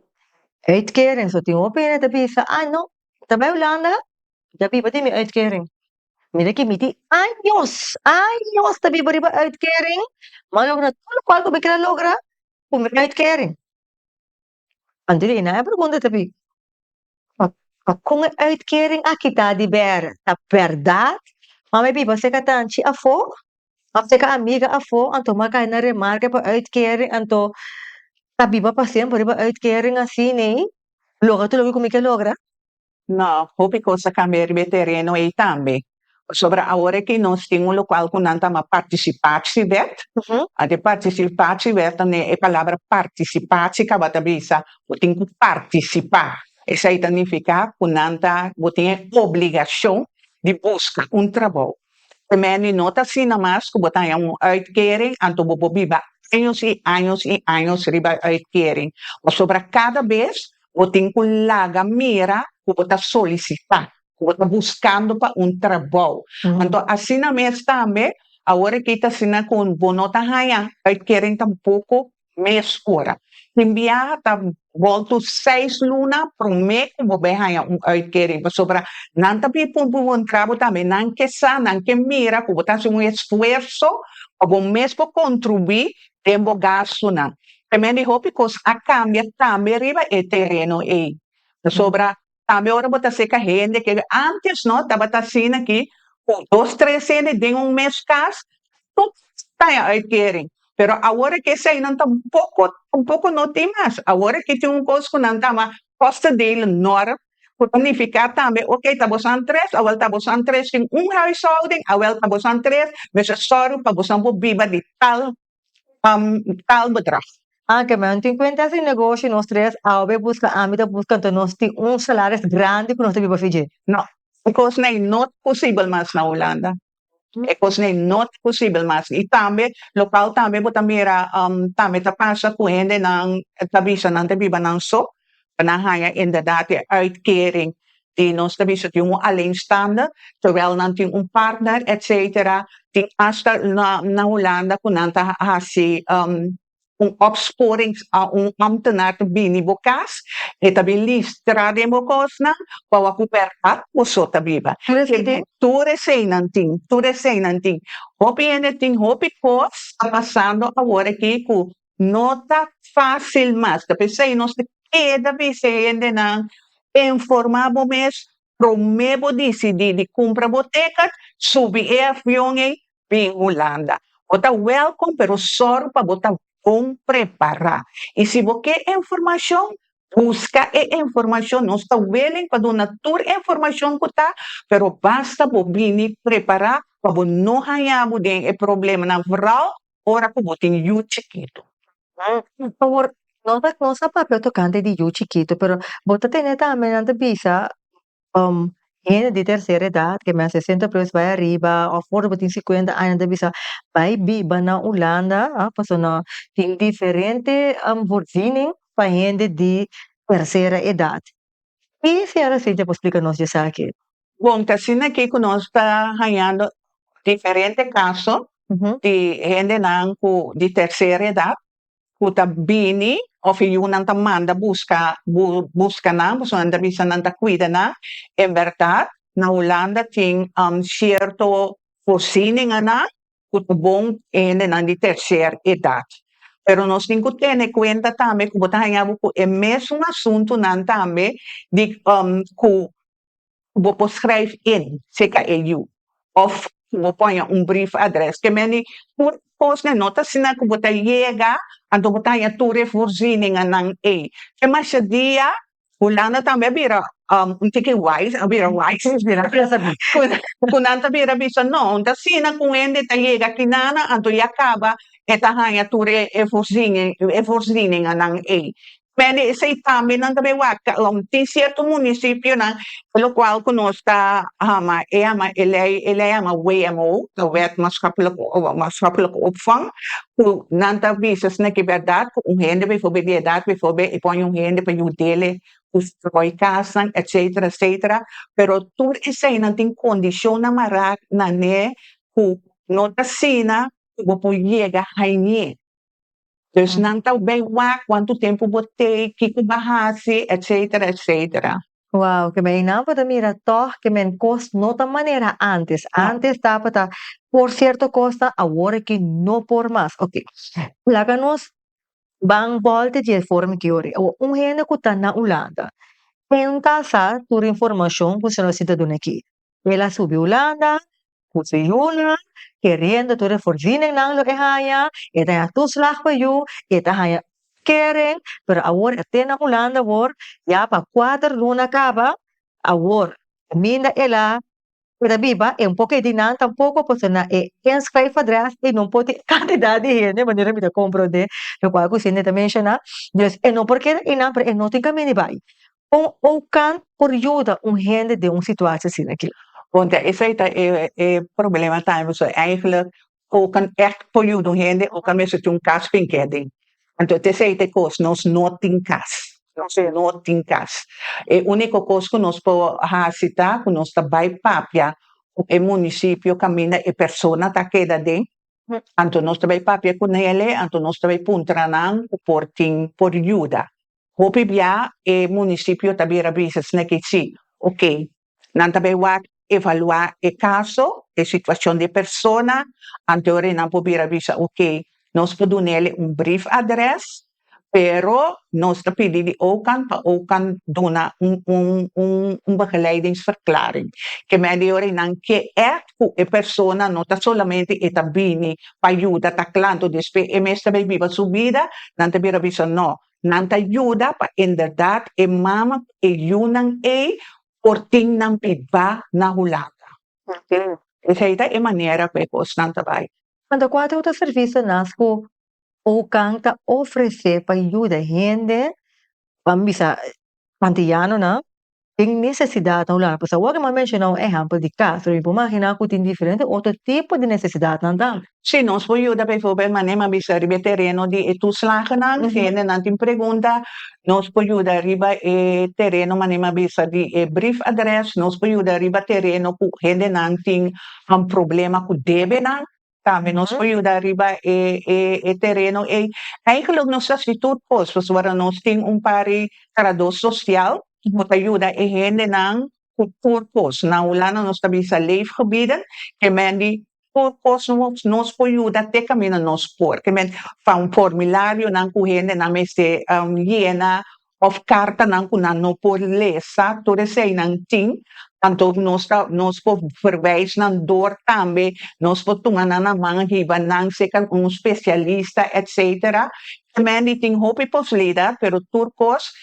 e uitkering. So tin hopi hende ta bisa, a nò, mi ta bai Hulanda, mi ta biba di mi uitkering. Mira ke mi tin años años ta biba riba uitkering mi a logra tur lokual ku mi keda logra ku mi uitkering anto e nan a pregunta ta bin pa pakon e uitkering aki ta di bere ta bèrdat a mi a biba seka tanchi afo of seka amiga afo anto mi a kai na remarke pa uitkering anto ta biba pa semper riba uitkering asini logra tur loke ku mi ke logra. No, hopi cos a cambia riba e tereno ey tambe. Pasobra awor aki nos tin un local cu nan ta ma Participatiewet. Anto e Participatiewet ta ne e palabra participatie caba ta bisa bo tin cu participa. Esey ta nifica cu nan ta, bo tin e obligacion di busca un trabou. Temer di no ta asina mas cu bo ta haya un uitkering anto bo por biba años y años y años riba e uitkering. Pasobra cada bes bo tin cu laga mira cu bo ta solicita, cu bo ta buscando pa un trabou. Anto asina mes tambe, awor aki ta asina cu bo no ta haya uitkering tampoco mes ora. Tin biaha ta bolto seis luna prome cu bo bay haya un uitkering pasobra nan ta bin pun bo un trabou tambe, nan ke sa, nan ke mira cu bo ta haci un esfuerso pa bo mes por contribui den bo gastunan. Promé di hopi kos a kambia tambe riba e tereno ei. Pasobra tambe ora bo ta seka hende ke ántes no tabata asina aki ku dos tres hende den un mes kas, tur ta den uitkering. Pero awor aki esei nan tampoko tampoko no tin mas. Awor aki tin un kos ku nan ta ama kòstedelen nòrm Cu ta nifica tambe, ok, ta bosan tres, awel ta bosan tres den un huishouden, awel ta bosan tres, mester sorgo pa bosan por biba di tal, tal bedrag. Oké, ma tin cuenta si negoshi nos tres, awe busca ami ta busca, enton nos tin un salaris grandi cu nos ta biba afi dje? No, e cosnan no posibel mas na Hulanda. e kos n'ei no ta posibel mas i tambe lokal tambe bo ta mira tambe ta pasa ku hendenan ta bisa nan ta biba nan so pa nan haña inderdat e uitkering di nos ta bisa di un alleenstander tèwel nan tin un partner etsetera tin asta na Hulanda ku nan ta hasi. un opsporing a un ámtenaar ta bini bo kas, e ta bin listra den bo kosnan pa wak ku bèrdat boso ta biba. Tur eseinan tin, tur eseinan tin. Hopi hende tin hopi kos a pasando awor aki ku no ta fásil mas. Ta p'esei nos ta keda bisa e hendenan informá bo mes Promé bo disidí di kumpra bo tékat, subi e avion ei bin Hulanda. Bo ta wèlkom, pero sòru pa bo ta bon prepará. I si bo ke e informashon, buska e informashon. Nos ta willing pa duna tur informashon ku ta, pero basta bo bini prepará pa bo no hañá bo den e problemanan, vooral ora ku bo tin yu chikitu. Por favor, no ta no sa papia tokante di yu chikitu pero bo ta tene tambe nan ta bisa hende di tercera edad ke men a sesenta plus bai ariba of ora bo tin sikuenta aña nan ta bisa bai biba na Ulanda pasobra nan tin diferente vorzining pa hende di tercera edad. Ki Ciara Cintia por splica nos di esaki? Bon, ta asina ki cu nos ta hañando diferente caso di hendenan cu di tercer edad cu ta bini of e yunan ta manda busca busca nan pasobra nan ta bisa nan ta cuida nan. En berdad na Hulanda tin cierto voorzieningen nan ku ta bon hendenan di terser edat. Pero nos tin ku tene kuenta tambe ku bo ta haña bo ku e mesun asuntunan tambe di ku bo por skrijf in CKEU òf ku bo por haña un brief adrès. Ke mende tur kosnan no ta asina ku bo ta yega, anto bo ta haña tur e voorzieningannan ei. Te mashadiya Hulanda tambe a bira un tiki wise, a bira wise ku nan ta bira bisa no, un ta asina ku un hende ta yega akinana, anto e akaba e ta haña tur e e forsini e forsininganan ei. Mende esei tambe nan ta wak tin sierto munisipionan e lo kual ku nos ta ama e ama e lei e lei a ama wmo, Wet Maatschapplike Opvang, Cu nan ta bisa sna ki berdad cu un hende bifobe di edad bifobe y pone un hende pa yudele cu stroy casnan etcetera etcetera pero tur eseinan tin condicionnan mara nane cu no ta asina cu bo por yega hainie dus nan ta bay wak cuanto tempo bo tey kico ba haci etcetera etcetera. Wow, keme einan por ta mira tòg keme kos no ta manera antes. Ja. Antes tabata por sierto kosnan, awor aki no por mas. Oke, laga nos ban bòlta di e forma ke yo ri. Awor, un hende ku ta na Ulanda, e no ta sa tur informashon ku Senor Sintaduna ke. El a subi Hulanda cu su yuna, keriendo tur e forzininnan lo e haya. E ta haya toeslag pa yu, e ta haya kering, pero awor e te na Hulanda awor, ya pa kuater luna caba. Awor, caminda el a keda biba, e un poco di nan tampoco, pasobra na e inschrijf adres e no por tin e cantidad di hende manera mi ta comprende, locual cu Cindy ta menciona. Dus e no por keda einan, pero e no tin caminda di bay. Con Oukan por yuda un hende den un situatie asina aki? Ponte esai ta e e problema tambe, so eigenlijk Oukan echt por yuda un hende, Oukan mester tin un cas fin ke adin. Anto te esei ta e cos, nos no tin cas, nos no tin cas. E unico cos cu nos por haci ta cu nos ta bay papia cu e municipio caminda e persona ta keda aden, anto nos ta bay papia cu nele, anto nos ta bay puntra nan cu por tin, por yuda. Hopi bia e munisipio ta bira bisa sneki si, ok. Nan ta bai wak evalua e kaso, e situashon di e persona, anteori nan por bira bisa ok, nos por dun'el'e un brief adres, pero nos ta pidi di okan pa okan duna un un un begeleidingverklaring. Ke medio ori nan ke èt ku e persona no ta solamente e ta bini pa yuda ta klantu, despe e mester bai biba su bida, nan ta bira bisa no, Nan ta yuda pa inderdat e mama ku e yunan ei por tin nan bibá na Hulanda. Oké, esei ta e manera ku e kosnan ta bai. Kanta kuater oter servishon nas ku Oukan ta ofresé pa yuda hende, ban bisa antiyanonan? tin nesesidatnan ku laga. Pues awor ke mi a menshona un ehèmpel di kas, mi por imaginá ku tin diferente otro tipo di nesesidatnan tambe. Si nos por yuda biforbel manera mi a bisa riba e tereno di e tuslagnan, si hendenan tin pregunta, nos por yuda riba e tereno manera mi a bisa di e brief address, nos por yuda riba tereno ku hendenan tin un problema ku debenan, tambe nos por yuda riba e e e tereno ei. Eigenlik nos ta hasi tur kos pasobra nos tin un pari tradó sosial ku ta yuda e hendenan ku tur kos. Na Hulanda nos ta bisa leefgebieden, ke mende tur kos nos nos por yuda te kaminda nos por. Ke mende, van formularionan ku hendenan mester yena òf kartanan ku nan no por lesa, tur eseinan tin, anto nos ta nos por verwijs nan dor tambe, nos por tuma nan na man hiba nan seka un spesialista etsetera. Kemen di tin hopi poslida pero tur kos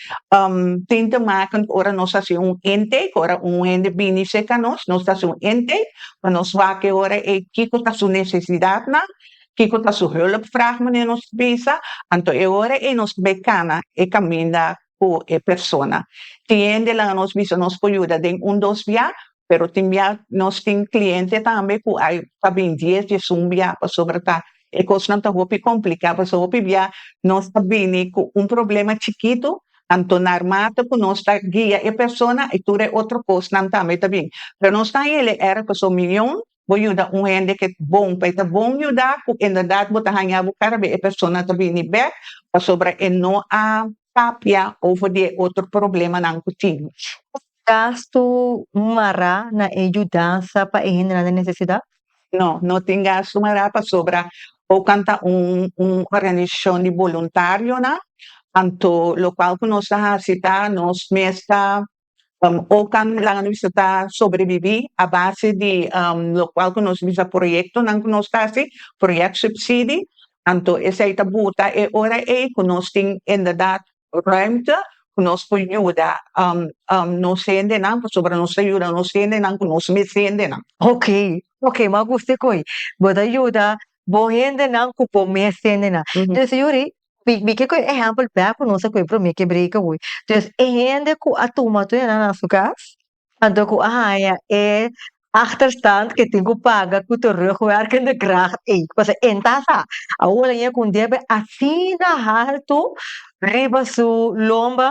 tin te maken ku ora nos hasi un intake, ku ora un hende bini seka nos, nos ta hasi un intake pa nos wak e ora ei kiko ta su nesesidatnan kiko ta su hulp vraag manera nos bisa, anto e ora ei nos bai cana e caminda cu e persona. Tin hende laga nos bisa nos por yuda den un dos bia, pero tin bia nos tin cliente tambe cu a ta bin dies dies un bia pasobra ta e cosnan ta hopi complica pasobra hopi bia nos ta bini cu un problema chikito anto narmata cu nos ta guia e persona y tur e otro cosnan tambe ta bin pero nos ta hili era pasobra miyon bo yuda un hende ke bon, pa e ta bon yuda ku inderdat bo ta haña bo kara be e persona ta bini bek pasobra e no a papia over di e otro problemanan ku tin. Ku gastu mará na e yudansa pa e hendenan den nesesidat? No, no tin gastu mará pasobra Oakland ta un un organisashon di boluntarionan, anto lokual ku nos ta hasi ta nos mes ta Um, oca nan a bisa ta sobreviví a base di um, lo cual que nos bisa proyecto nan que nos ta haci, project subsidie, anto esai ta buta e ora ei que nos tin inderdaad ruimte que nos por yuda um, um, nos hendenan, pasobra nos ta yuda nos hendenan cu nos mes hendenan. Ok, ok, ma gusti coi. Bo ta yuda bo hendenan cu bo mes hendenan. Dus Yuri, bi bi ke ku e ehèmpel bèk ku nos a kué promé ke breka hui entonces e hende ku a tuma tur nan na su kas anto ku a haña e achterstand ke tin ku paga ku terugwerkende kracht ey pasobra e ta sa awor laña kundie asina haltu riba su lomba.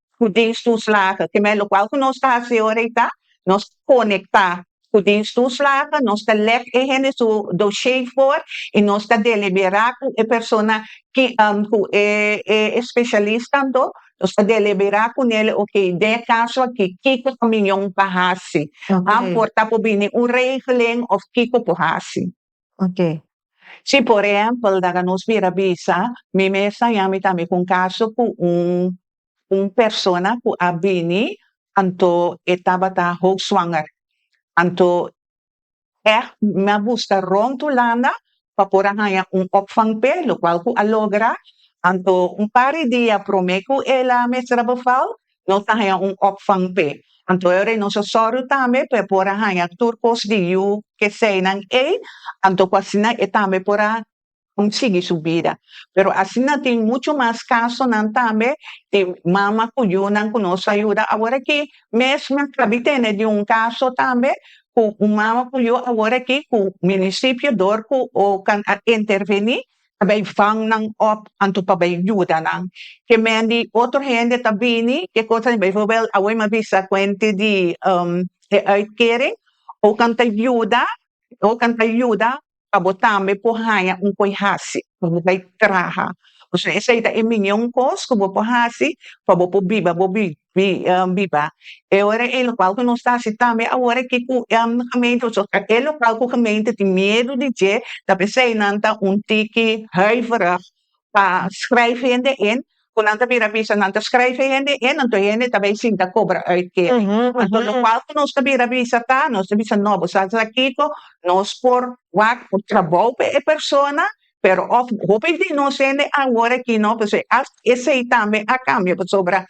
ku Dios tuslagha. Kemei lokual ku nos ta hasi ora ei ta nos konektá ku Dios tuslagha, nos ta lek e hende su doshé for i nos ta deliberá ku e persona ki ku e e espeshalis kanto, nos ta deliberá ku nel, okey den e kaso aki kiko ta mion pa hasi, por ta por bini un regelen òf kiko por hasi. Ok. Si por ehempel daga nos bira bisa, mi mester a yami tambe ku un kaso ku un un persona ku a bini anto e tabata hoogswanger. Anto èg mi a buska rònt Hulanda pa por a haña un òpvang p'e, lokual ku a logra. Anto un par di dia promé ku el a mester a beval, nos ta haña un òpvang p'e. Anto e orei nos a sòru tambe p'e por a haña tur kos di yu keseinan ei, anto ku asina e tambe por a sigui su bida. Pero asina tin muchu mas kasonan tambe di mama ku yunan ku nos a yuda aworakí. Mes mi a kabi tene di un kaso tambe ku un mama ku yu aworakí ku munisipio dor ku okan a intervení, Ta bay vang nan op anto pa bay yuda nan ke men di otro hende ta bini ke cosa ni bijvoorbeeld awe mi bisa kuente di e uitkering o kan ta yuda o kan ta yuda pa bo tambe por haña un koe hasi pa bo bay traha esei ta e miñon kos ku bo por hasi pa bo por biba bo bi di biba e ora e lokal ku nos ta hasi tambe awor aki ku gemeente o e lokal ku gemeente tin miedu di dje ta p'esei nan ta un tiki huiverig pa skryf hende in ku nan ta bira bisa nan ta skryf e hende in anto e hende ta bai sinta kobra uit kering anto lokal ku nos ta bira bisa ta nos ta bisa no bo sa sa kiko nos por wak por trabou pa e persona pero of hopi di nos hende awor aki no pasobra as esey tambe a cambio pasobra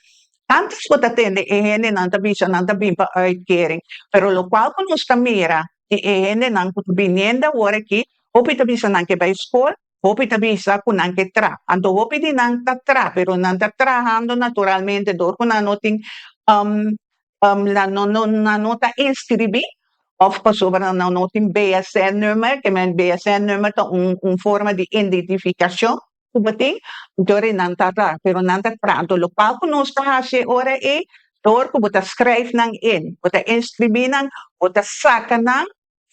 antes cu ta tende e hendenan ta bisa nan ta bin pa uitkering pero locual cu nos ta mira di e hendenan cu ta biniendo awor aki hopi ta bisa nan ke bay school hopi ta bisa cu nan ke traha anto hopi di nan ta traha pero nan ta trahando naturalmente dor cu nan no tin. nan no no nan no ta inscribí of pasobra nan no tin BSN number ke men BSN number ta un un forma di identificacion cu bo tin enton ri nan ta ta pero nan ta pranto lo cual cu nos ta haci ora e door cu bo ta scryf nan in bo ta inscribí nan bo ta saca nan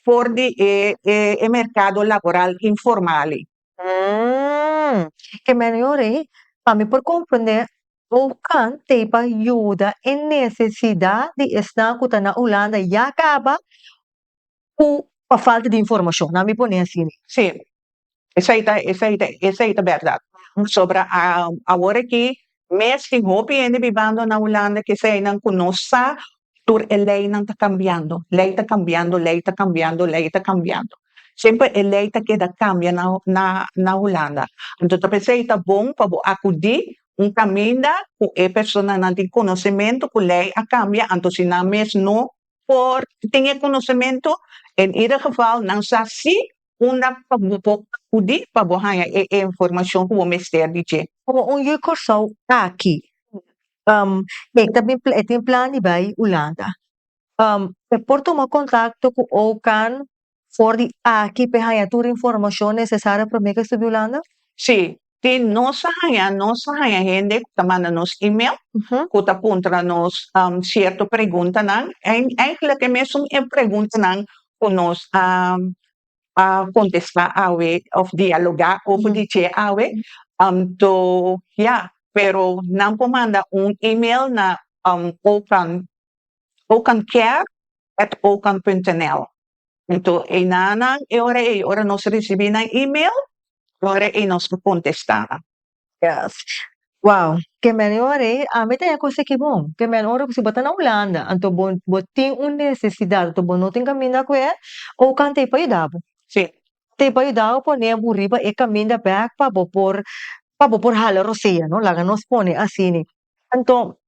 for di e e e mercado laboral informal i. Hm ke men yori pa mi por comprende Boukan teipa yuda e nesesidat di esnan ku ta na Hulanda ya kaba ku pa falta di informashon, nan mi pone asi ni. Sí, esei ta esei ta esei ta bèrdat. Pasobra a awor aki mes tin hopi hende bibando na Hulanda, ke eseinan ku no sa tur e leinan ta kambiando, lei ta kambiando, lei ta kambiando, lei ta kambiando, semper e lei ta keda kambia na na na Hulanda, anto ta p'esei ta bon pa bo akudí un kaminda ku e personanan tin konosementu ku lei a kambia anto si nan mes no por tin e konosementu, en ieder geval nan sa si unda pa bo por akudí pa bo haña e e informashon ku bo mester di dje. Komo un yu Kòrsou aki e ta bin e tin plan di bai Ulanda e por tuma kontakto ku OCAN for di aki pa e haña tur informashon nesesario promé ku e studia Ulanda? Sí, Te nos a haña, nos a haña hende ku ta manda nos email, ku ta puntra nos sierto preguntanan, en eigenlijk e mesun e preguntanan ku nos a a kontestá awe òf dialogá ober di dje awe, anto ya, pero nan por manda un email na okan, okanker at okan punt nl. Anto einanan e ora ei ora nos ricibi nan email e ora ei nos ta contesta nan. Yes. Wow, ke mene ora ei ami ta yako seki bo. Ke mene ora si bo ta na Hulanda anto bo bo tin un necesidad anto bo no tin caminda cu e oca tey pa yuda bo. Si. Tey pa yuda bo pone bo riba e caminda bek pa bo por pa bo por hala rosea no laga nos pone asini anto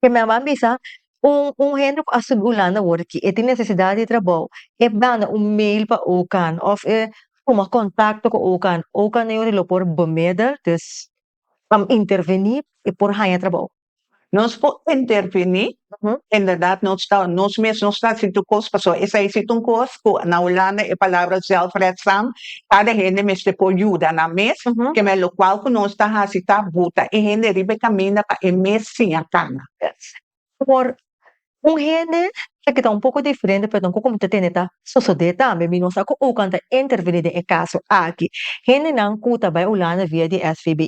Ke mi a ban bisa, un un hende ku a subi Ulanda awor aki, e tin nesesidat di trabou, e manda un meil pa OCAN òf e tuma kontakto ku OCAN, OCAN ta yo'i lo por bemidel, dus ta interveni pa e por haña trabou. Nos por interveni, inderdat nos ta nos mes nos ta hasi tur kos, pasobra esei si ta un kos ku na Ulanda e palabra zelfredzaam Kada hende mester por yuda nan mes, kemey lokual ku nos ta hasi ta buta e hende riba e kaminda pa e mes siña kana. Por un hende ta kita un poko diferente, pero ta un koko ta tende ta sosodé tambe. Mi no sa ku Ookant a intervení den e kaso aki. Hendenan ku ta bai Ulanda via di SVB.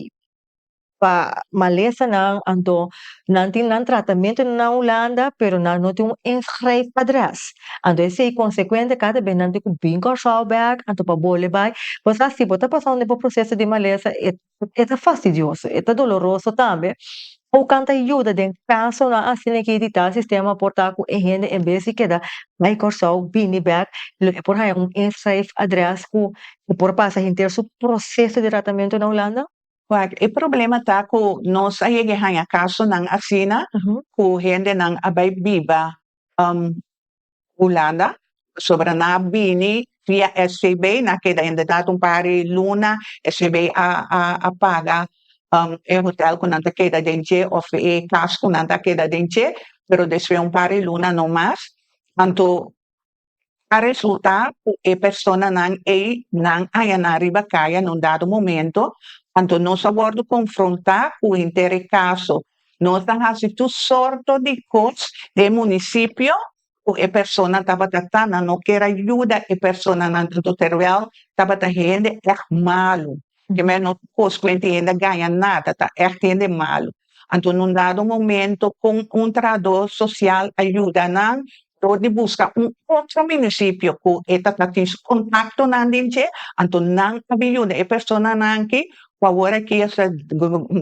pa malesanan anto nan tin nan tratamentu na Hulanda pero nan no tin un inschrijf adres anto esei konsekuente kada bes nan tin ku bin Kòrsou bek anto pa bole bai bo sa si bo ta pasa unda e bo proseso di malesa e ta fastidioso e ta doloroso tambe ou kan ta yuda den kasonan asina ki di tal sistema por ta ku e hende en bes di keda bai Kòrsou bini bek lo e por haña un inschrijf adres ku e por pasa henter su proseso di tratamentu na Hulanda. Waak, e problema ta ku nos a yega e haña kasonan asina ku hendenan a bai biba Hulanda pasobra nan a bini via SVB, nan a keda inderdat un par di luna, SVB a a paga e hotèl ku nan ta keda den dje òf e kas ku nan ta keda den dje, pero despues un par di luna no mas. Anto a resultá ku e personanan ei nan ayaná riba kaya na un dado momento. Anto nos a wòrdu konfrontá ku hintere kaso. Nos a hasi tur sorto di kos den e munisipio ku e personanan tabata ta, nan no kera yuda e personanan anto terwèl tabata hende èg malu. Porque me no cos cu ente hende a gaña nada, ta echt hende malu. Anto un dado momento con un trahador social a yuda nan dor di busca un otro municipio cu e tatatin su contactonan den dje, anto nan a bin yuda e personanan aki cu awor aki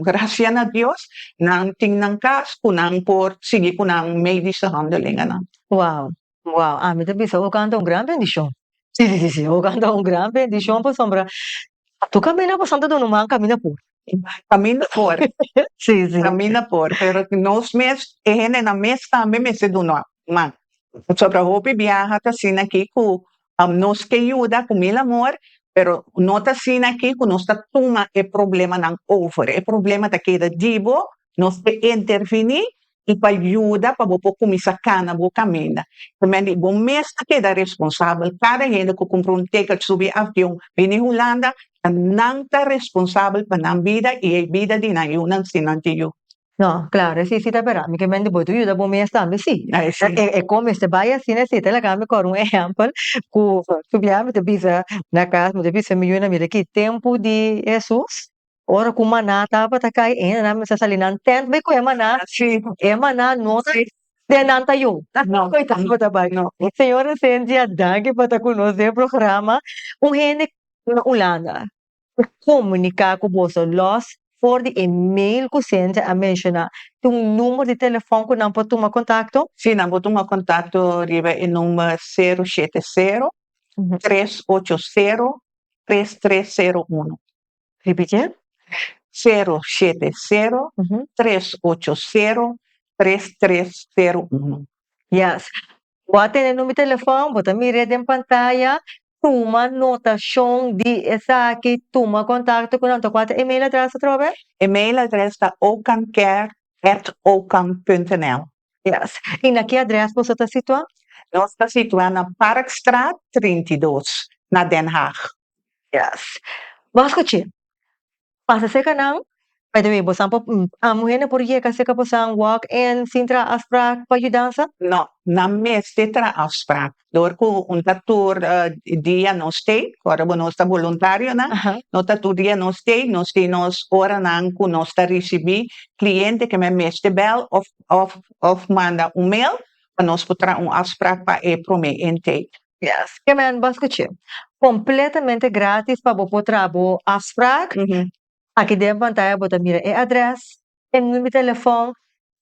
gracian a Dios nan tin nan cas cu nan por sigui cu nan medische handelingen nan. Wow. Wow, ami ta bisa ogan ta un gran bendishon, si si si ogan ta un gran bendishon pasobra atu kaminda pasan ta duna man kaminda por, kaminda por si si kaminda por pero nos mes e hendenan mes tambe mester duna man pasobra hopi biaha ta asina aki ku Nos ke yuda ku mil amor, pero no ta asina aki ku nos ta tuma e problemanan over. E problema ta keda di bo, nos ke interviní i pa yuda pa bo por kuminsá kana bo kaminda. P'esei di bo mes ta keda responsabel. Kada hende ku kumpra un teket subi avion bini Hulanda, nan ta responsabel pa nan bida i e bida di nan yunan si nan tin yu. No, claro, e sisi ta bera mi ke men di bo tu yuda bo mes tambe si. Ai si. E e kon mester bai asina e siti laga mi kòrda un ehèmpel ku subiá mi ta bisa na kas mi ta bisa mi yunan mira ki tempu di Hesus ora ku maná tabata kai ainda nan mester sali nan tènt bai kuhé maná si e maná no ta den nan ta yo no bai tabata bai no señor Esensia danki pa ta ku nos den programa un hende na Ulanda. ta komuniká ku boso lòs for di e mail ku Cynthia a menshoná. Ta un number di telefòn ku nan por tuma kontakto? Sí, nan por tuma kontakto riba e number sero shete sero, tres ocho sero, tres tres sero uno. Repitié, sero shete sero, tres ocho sero, tres tres sero uno. Yes. Bo a tene nu mi telefòn, bo ta mir'é den pantaya, tuma notashon di esaki, tuma kontakto ku nan. Ta kual ta e mail address atrobe? E mail address ta ocamcare at ocam punto nl. Yes. I na ki address boso ta situá? Nos ta situá na Parkstraat trinta i dos, na Den Haag. Yes. Bo a skuch'é. pasa seka nan By the way bosan por muhernan por yeka seka bosan walk in sin traha afspraak pa yudansa? No, nan mester traha afspraak dor ku un ta tur dia nos stay ora bo nos ta boluntarionan no ta tur dia nos stay nos tin nos oranan ku nos ta risibí kliente ke men mester bèl òf òf òf manda un mail pa nos por traha un afspraak pa e promé intake. Yes, ke men bo skuch'é. Kompletamente gratis pa bo por traha bo afsprak. Aki den pantaya bo ta mira e adrès, e numi di telefòn,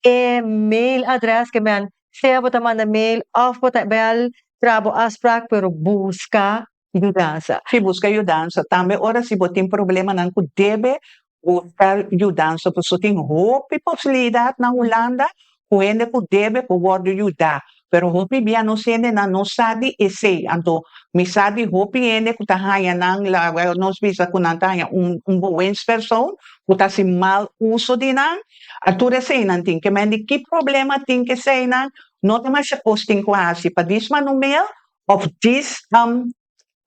e mail adrès ke men sea bo ta manda mail òf bo ta bèl traha bo afsprak pero buska yudansa. Si buska yudansa. Tambe ora si bo tin problemanan ku debe Buska yudansa pasobra tin hopi posibilidat na Hulanda ku hende ku debe por wòrdu yuda. Pero hopi bia nos hendenan no sa di esei. Anto mi sa di hopi hende ku ta haña nan, laga nos bisa ku nan ta haña un un boens persoon ku ta hasi mal uso di nan. A tur eseinan tin ke mende ki problema tin ke eseinan. No demasia kos tin ku hasi pa dismanumel òf dis am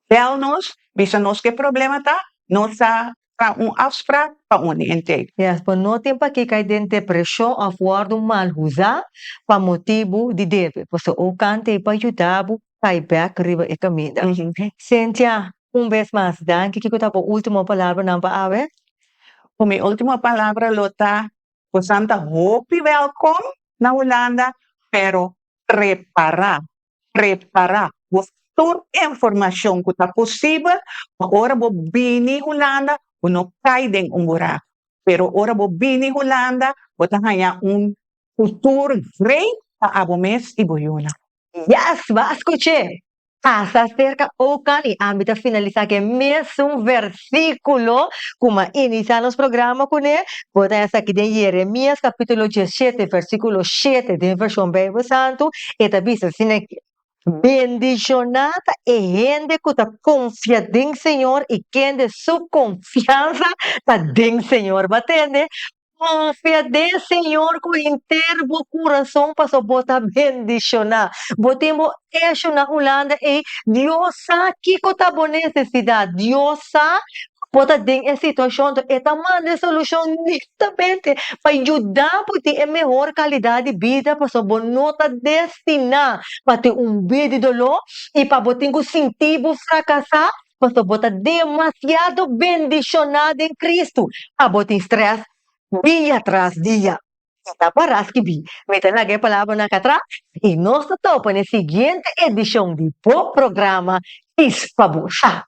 Bèl nos, bisa nos ke problema ta, nos ta tra un afsprak pa un di Intake. Despa no tin pa ke kai den depreshon òf wòrdu mal husá pa motibu di debe. Pasobra un kant ei pa yuda bo kai bèk riba e kaminda. Cynthia, un bes mas danki. Kiko ta bo último palabranan pa awe? Ku mi último palabra lo ta, Bosan ta hopi wèlkom na Hulanda, pero prepará. Prepará bo tur informashon ku ta posibel pa ora bo bini Hulanda bo no kai den un burak. Pero ora bo bini Hulanda bo ta haña un futur great pa abo mes i bo yuna. Yes, bo a skuch'é! Pasa serka Oakland i ami ta finalisá ku e mesun vers. versíkulo ku m'a inisiá nos programa kuné, bo ta esaki den Jeremias kapítulo diesshete versíkulo shete den Vershon Beibel Santu, e ta bisa asina ke, Bendishoná ta e hende ku ta konfia den Señor i kende su konfiansa ta den Señor. Bo a tende? Konfia den Señor ku henter bo kurason pasobra bo ta bendishoná. Bo tin bo eshu na Hulanda ei. Dios sa kiko ta bo nesesidat. Dios sa ku bo ta den e situashon anto e ta manda e solushon netamente pa yuda bo tin e mehor kalidat di bida pasobra bo no ta destiná pa tin un bid di doló i pa bo tin ku sinti bo frakasá Pasobra bo ta demasiado bendishoná den Kristu, a bo tin strès dia tras dia. I ta pará skibí. Mi ta laga e palabranan akí atras, i nos ta topa na e siguiente edishon di bo programa Kis pa bo sa.